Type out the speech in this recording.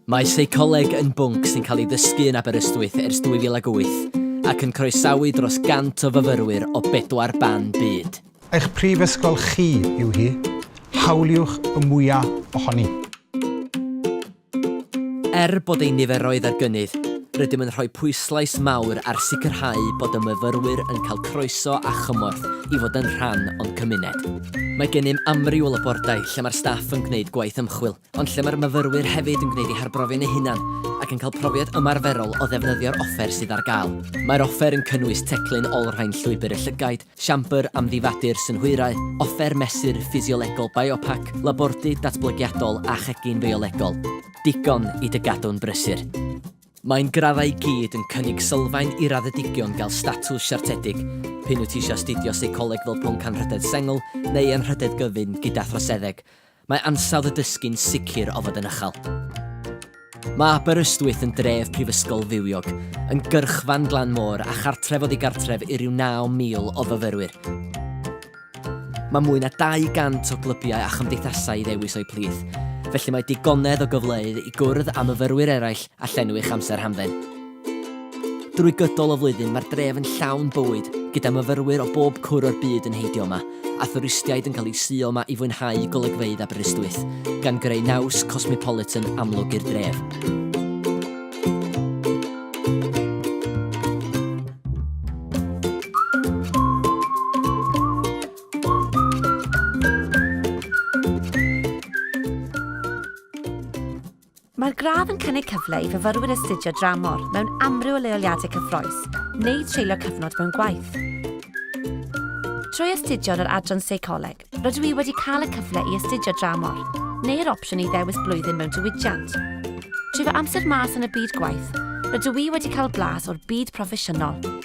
Mae seicoleg yn bwnc sy'n cael ei ddysgu yn Aberystwyth ers 2008 ac yn croesawu dros 100 o fyfyrwyr o bedwar ban byd. Eich prifysgol chi yw hi, hawliwch y mwya' ohoni. Er bod ein niferoedd ar gynnydd, rydym yn rhoi pwyslais mawr ar sicrhau bod y myfyrwyr yn cael croeso a chymorth i fod yn rhan o'n cymuned. Mae gennym amrywiol y bordau lle mae'r staff yn gwneud gwaith ymchwil, ond lle mae'r myfyrwyr hefyd yn gwneud eu harbrofion eu hunain ac yn cael profiad ymarferol o ddefnyddio'r offer sydd ar gael. Mae'r offer yn cynnwys teclyn olrhain llwybr y llygaid, siambr amddifadu'r synhwyrau, offer mesur ffisiolegol biopac, labordy datblygiadol a chegin fiolegol. Digon i dy gadw'n brysur! Mae'n graddau i gyd yn cynnig sylfaen i raddedigion gael statws siartedig, p'un wyt ti eisiau astudio seicoleg fel pwnc anrhydedd sengl neu anrhydedd gyfun gyda throseddeg. Mae ansawdd y dysgu'n sicr o fod yn uchel. Mae Aberystwyth yn dref prifysgol fywiog, yn gyrchfan glan môr a chartref oddi gartref i ryw 9,000 o fyfyrwyr. Mae mwy na 200 o glybiau a chymdeithasau i ddewis o'u plith, felly mae digonedd o gyfleoedd i gwrdd â myfyrwyr eraill a llenwi'ch amser hamdden. Drwy gydol y flwyddyn mae'r dref yn llawn bywyd, gyda myfyrwyr o bob cwr o'r byd yn heidio yma, a thwristiaid yn cael eu suo yma i fwynhau golygfeydd Aberystwyth, gan greu naws cosmopolitan amlwg i'r dref. Mae'r gradd yn cynnig cyfle i fyfyrwyr astudio dramor mewn amryw o leoliadau cyffroes neu treulio cyfnod mewn gwaith. Trwy astudio yn yr Adran Seicoleg, rydw i wedi cael y cyfle i astudio dramor, neu'r opsiwn i ddewis blwyddyn mewn diwydiant. Trwy fy amser mas yn y byd gwaith, rydw i wedi cael blas o'r byd proffesiynol,